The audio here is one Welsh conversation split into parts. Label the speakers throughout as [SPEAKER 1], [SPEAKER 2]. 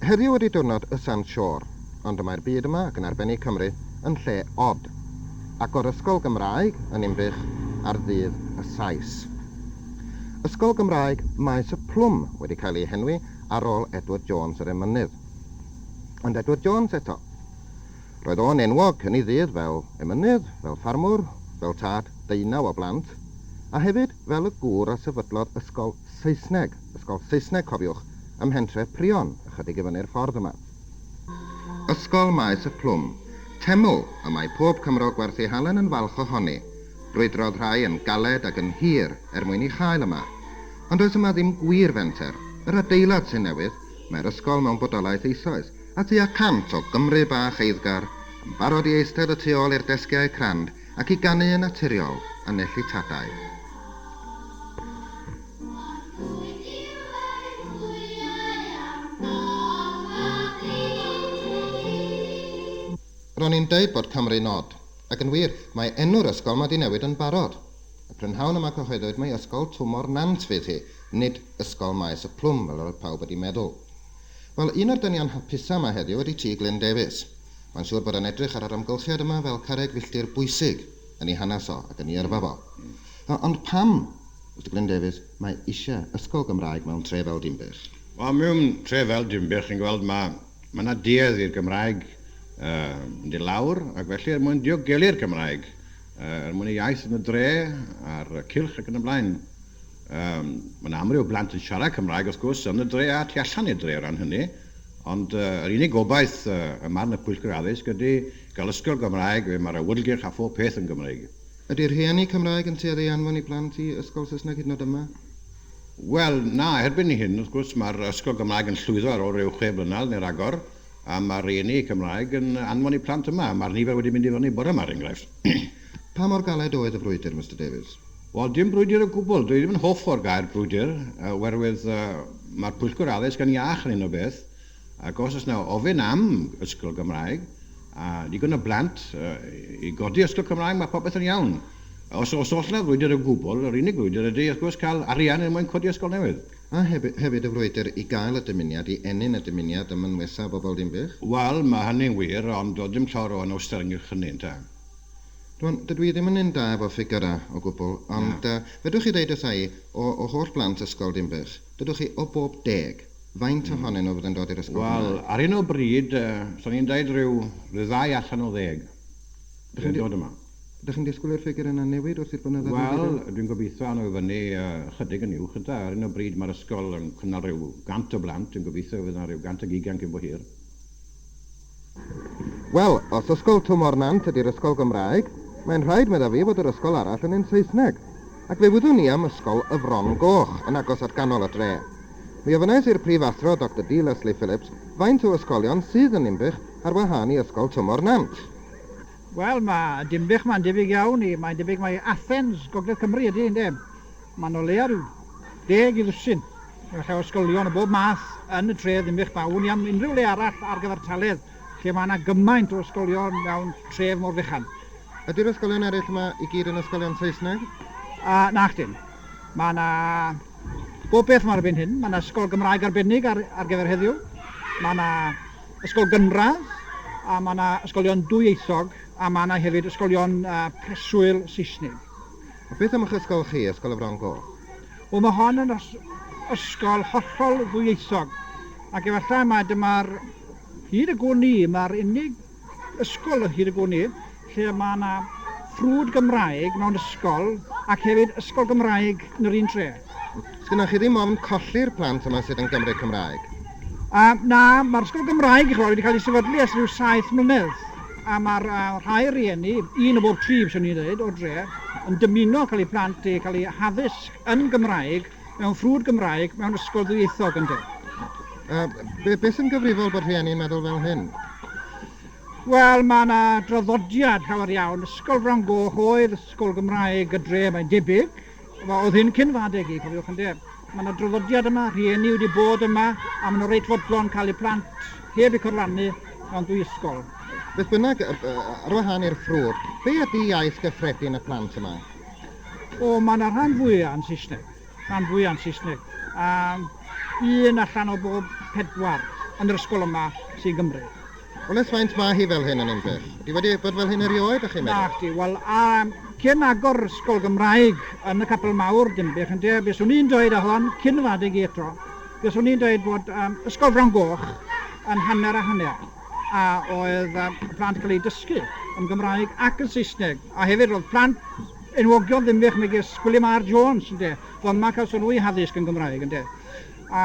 [SPEAKER 1] Heddiw ydy diwrnod y Sand Shore, ond y mae'r byd yma, ac yn arbennig Cymru, yn lle od. Agor ysgol Gymraeg yn Inbych ar ddydd y Sais. Ysgol Gymraeg Maes y Plwm wedi cael ei henwi ar ôl Edward Jones yr emynydd. Ond Edward Jones eto. Roedd o'n enwog yn ei ddydd fel emynydd, fel ffarmwr, fel tad deunaw o blant, a hefyd fel y gŵr a sefydlodd ysgol Saesneg, ysgol Saesneg, cofiwch, ym mhentref Prion, ychydig i fyny'r ffordd yma. Ysgol Maes y Plwm, teml y mae pob Cymro gwerth ei halen yn falch ohoni. Brwydrodd rhai yn galed ac yn hir er mwyn ei chael yma. Ond does yma ddim gwir fenter. Yr adeilad sy'n newydd, mae'r ysgol mewn bodolaeth eisoes, a tua cant o Gymry bach eiddgar yn barod i eistedd y tu ôl i'r desgiau crand Ac i ganu yn naturiol a nellu tadau. Ro'n i'n deud bod Cymru'n od, ac yn wir, mae enw'r ysgol 'ma 'di newid yn barod. Y prynhawn yma cyhoeddwyd mai Ysgol Twmor Nant fydd hi, nid Ysgol Maes y Plwm fel yr oedd pawb wedi meddwl. Wel, un o'r dynion hapusa' 'ma heddiw ydi ti, Glyn Davies. Mae'n siŵr bod e'n edrych ar yr amgylchiad yma fel carreg filltir bwysig yn 'i hanes o ac yn 'i yrfa fo. O, ond pam, Mister Glyn Davies, mae isie ysgol Gymraeg mewn tre fel Dinbych? Wel, mewn tre fel Dinbych, chi'n gweld, ma', ma' 'na duedd i'r Gymraeg yy mynd i lawr, ac felly er mwyn diogelu'r Gymraeg, yy er mwyn y iaith yn y dre, a'r cylch ac yn y blaen, Yym, mae 'na amryw blant yn siarad Cymraeg, wrth gwrs, yn y dre a tu allan i'r dre o ran hynny, ond yr unig gobaith ym marn y Pwyllgor Addysg ydy gael ysgol Gymraeg le mae'r awyrgylch a phob peth yn Gymreig. Ydy rhieni Cymraeg yn tueddu i anfon i plant i ysgol Saesneg hyd yn oed yma? Wel, na, erbyn hyn, wrth gwrs, mae'r ysgol Gymraeg yn llwyddo ar ôl ryw chwe blynedd neu ragor, a mae'r rhieni Cymraeg yn anfon eu plant yma. Mae'r nifer wedi mynd i fyny bore 'ma, er enghraifft. Pa mor galed oedd y frwydr, Mister Davies? Wel, dim brwydr o gwbl. Dwi ddim yn hoff o'r gair brwydr, oherwydd mae'r Pwyllgor Addysg yn iach yn hyn o beth, ac os oes 'na ofyn am ysgol Gymraeg, a digon o blant i godi ysgol Cymraeg, mae popeth yn iawn. Os os oes 'na frwydr o gwbl, yr unig frwydr ydy, wrth gwrs, cael arian er mwyn codi ysgol newydd. A hefyd y frwydr i gael y dymuniad, i ennyn y dymuniad ym mynwesa bobl Dinbych? Wel, mae hynny'n wir, ond does dim llawer o anawster ynghylch hynny, ynte. Rwan, dydw i ddim yn un da efo ffigyrau, o gwbl, ond yy, fedrwch chi ddeud wrtha i, o o holl blant ysgol Dinbych, dydwch chi, o bob deg, faint ohonyn nhw fydd yn dod i'r ysgol Gymraeg? Wel, ar hyn o bryd, yy, 'san ni'n deud rhyw ryw ddau allan o ddeg fydd yn dod yma. Ydych chi'n disgwyl i'r ffigyrau yna newid wrth i'r blynyddoedd newid eu...? Wel, dwi'n gobeithio awn nhw i fyny yy ychydig yn uwch ynde. Ar hyn o bryd mae'r ysgol yn cynnal rhyw 100 o blant, dwi'n gobeithio fydd yna ryw 100 ag ugain cyn bo hir. Wel, os ysgol Twmor Nant ydy'r ysgol Gymraeg, mae'n rhaid, medda fi, fod yr ysgol arall yn un Saesneg. Ac fe wyddwn i am ysgol Y Fron Goch, yn agos at ganol y dre. Mi ofynais i'r Prifathro, Doctor D. Leslie Phillips, faint o ysgolion sydd yn Ninbych ar wahân i ysgol Twmor Nant. Wel, mae Dinbych 'ma'n debyg iawn i, mae'n debyg mai Athens, Gogledd Cymru, ydy, ynde? Mae'n o leia' rhyw deg i ddwsin. Gallai ysgolion o bob math yn y tref ddim eich baw ni am unrhyw le arall ar gyfartaledd lle mae yna gymaint o ysgolion mewn tref mor fechan. Ydy'r ysgolion eraill yma i gyd yn ysgolion Saesneg? A, nag ydyn. Mae yna bob peth yma erbyn hyn. Mae yna ysgol Gymraeg arbennig ar, ar gyfer heddiw. Mae yna ysgol gynradd, a mae yna ysgolion dwyieithog, a mae yna hefyd ysgolion uh, preswyl Saesneg. A beth am eich ysgol chi, Ysgol y Fron Goch? Wel mae hon yn ysgol hollol ddwyieithog ac efallai mai dyma'r hyd y gwn i, mae'r unig ysgol hyd y gwn i lle mae yna ffrwd Gymraeg mewn ysgol ac hefyd ysgol Gymraeg yn yr un tre. Sgynnoch chi ddim ofn colli'r plant yma sydd yn Gymru Cymraeg? Uh, na, mae'r ysgol Gymraeg i chi wedi cael ei sefydlu ers rhyw saith mlynedd. a mae'r rhai rieni, un o bob tri fyswn i'n dweud, o'r dre, yn dymuno cael eu plant i cael eu haddysg yn Gymraeg, mewn ffrwd Gymraeg, mewn ysgol ddwyieithog yn dweud. Uh, beth yn gyfrifol bod rhieni'n meddwl fel hyn? Wel, mae yna draddodiad llawer iawn. Ysgol Fron Goch oedd ysgol Gymraeg y dre, mae'n debyg, Oedd hyn cyn fy adeg i, cofiwch ynde. Mae yna draddodiad yma, rhieni wedi bod yma, a maen nhw reit fodlon cael eu plant heb eu corlannu mewn dwy ysgol. Beth bynnag, ar wahân i'r ffrwd, be ydy iaith gyffredin y plant yma? O, mae yna rhan fwyaf yn Saesneg. Rhan fwyaf yn Saesneg. A un allan o bob pedwar yn yr ysgol yma sy'n Gymru. Wel ers faint ma' hi fel hyn yn Ninbych? Ydi wedi bod fel hyn erioed dach chi'n meddwl? Nacdi, wel a cyn agor ysgol Gymraeg yn y capel mawr Dinbych ynde, be swn i'n dweud a hon cyn fy adeg i eto, be swn i'n dweud bod um, ysgol Fron Goch yn hanner a hanner a oedd um, plant cael eu dysgu yn Gymraeg ac yn Saesneg a hefyd roedd plant enwogion Dinbych megis Gwilym R Jones ynde, fod yma cael sylw i haddysg yn Gymraeg ynde. A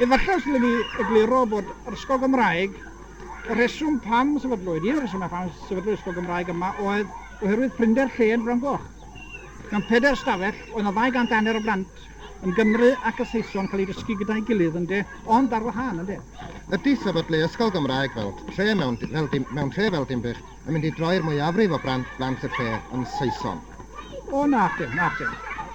[SPEAKER 1] efallai os dylwn i egluro bod yr Ysgol Gymraeg, y rheswm pam sefydlwyd, un o'r rhesymau pam sefydlwyd Ysgol Gymraeg yma oedd oherwydd prinder lle yn Fron Goch. Mewn pedair ystafell, oedd yna 200 a hanner o blant yn Gymru ac y Saeson cael eu dysgu gyda'i gilydd, ynde, ond ar wahân, ynde. Ydy sefydlu Ysgol Gymraeg fel tre mewn, fel dim, mewn tre fel Dinbych yn mynd i droi'r mwyafrif o blant blant y lle yn Saeson. O, nac dim, nac dim.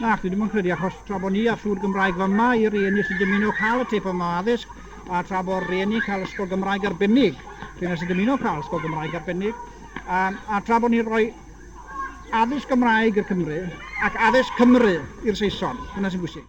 [SPEAKER 1] Nac, dwi ddim yn credu, achos tra bod ni ar siŵr Gymraeg fy yma i rieni sy'n dymuno cael y tip yma o addysg, a tra bod rieni'n cael ysgol Gymraeg arbennig, rhywun nes yn dymuno cael ysgol Gymraeg arbennig, a, a tra bod ni'n rhoi addysg Gymraeg i'r Cymru ac addysg Cymru i'r Saeson. Dyna sy'n bwysig.